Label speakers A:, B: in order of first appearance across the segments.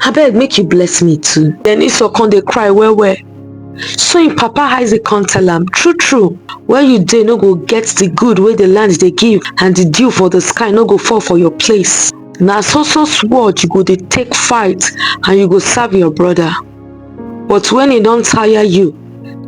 A: abeg make you bless me too then esau come dey cry well well so im papa isaac come tell am true true where you dey no go get the good wey the land dey give and the dew for the sky no go fall for your place na so so sword you go dey take fight and you go serve your brother but when e don tire you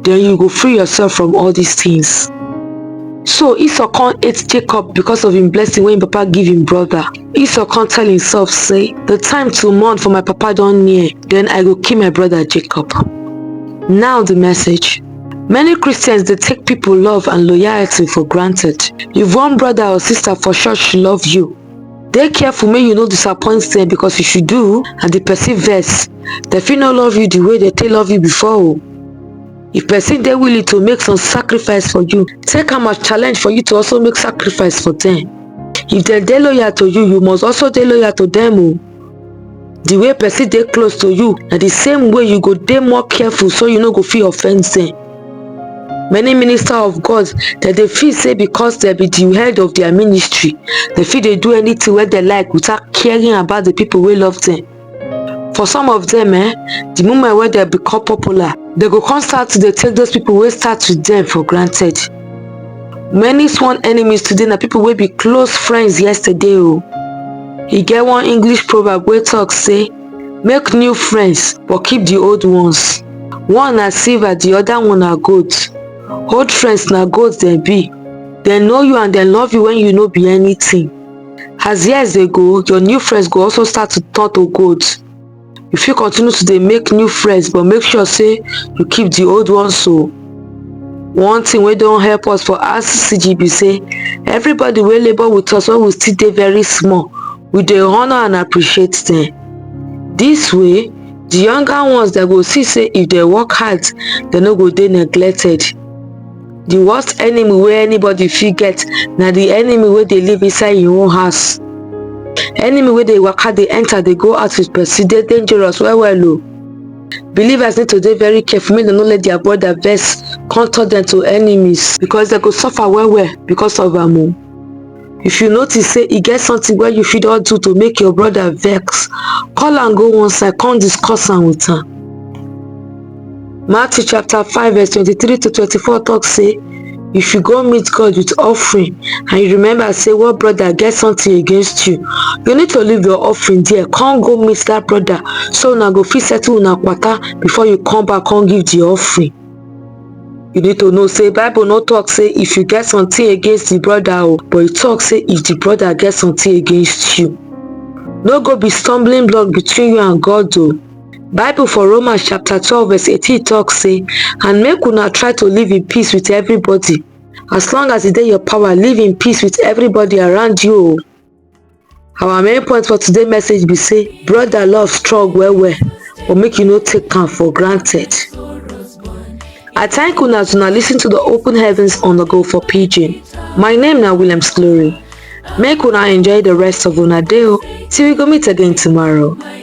A: then you go free yourself from all these things. So Esau can't hate Jacob because of him blessing when papa give him brother. Esau can't tell himself say, the time to mourn for my papa don't near, then I go kill my brother Jacob. Now the message. Many Christians they take people love and loyalty for granted. If one brother or sister for sure she love you, dey careful make you no disappoint them because if you do and the person vex they fit no love you the way they take love you before o if person dey willing to make some sacrifice for you take am as challenge for you to also make sacrifice for them if dem dey loyal to you you must also dey loyal to them o the way person dey close to you na the same way you go dey more careful so you no go fit offend them many minister of god dem dey feel say because dem be the head of their ministry dem fit dey do anything wey dem like without caring about the people wey love them for some of them eh the moment wey dem become popular dem go come start to dey take those people wey start with them for granted many sworn enemies today na people wey be close friends yesterday o e get one english proverb wey talk say make new friends but keep the old ones one na silver the other one na gold old friends na gold dem be dem know you and dem love you when you no be anything as years dey go your new friends go also start to turn to gold you fit continue to dey make new friends but make sure say you keep the old ones so oh. one thing wey don help us for rccg be say everybody wey labour with us when we still dey very small we dey honour and appreciate them this way the younger ones dem go see say if they work hard they no go dey neglected the worst enemy wey anybody fit get na the enemy wey dey live inside im own house enemy wey dey waka dey enter dey go out with person dey dangerous well well o believers need to dey very careful make dem no let their brother vex come turn dem to enemies because dem go suffer well well because of am o if you notice sey e get something wey you fit don do to make your brother vex call am go one side come discuss am with am matthew chapter 5 verse 23 to 24 talk say if you go meet god with offering and you remember say one brother get something against you you need to leave your offering there come go meet that brother so una go fit settle una kwata before you come back come give the offering you need to know say bible no talk say if you get something against the brother o oh, but e talk say if the brother get something against you no go be stumbling block between you and god o oh. bible for romans chapter twelve verse eighteen talk say and make una try to live in peace with everybody as long as e dey your power live in peace with everybody around you o oh. our main point for today message be say brother love strong well well but make you no take am for granted i thank una as una listen to the open heavens on the go for pidgin my name na williams glory make una enjoy the rest of una day o till we go meet again tomorrow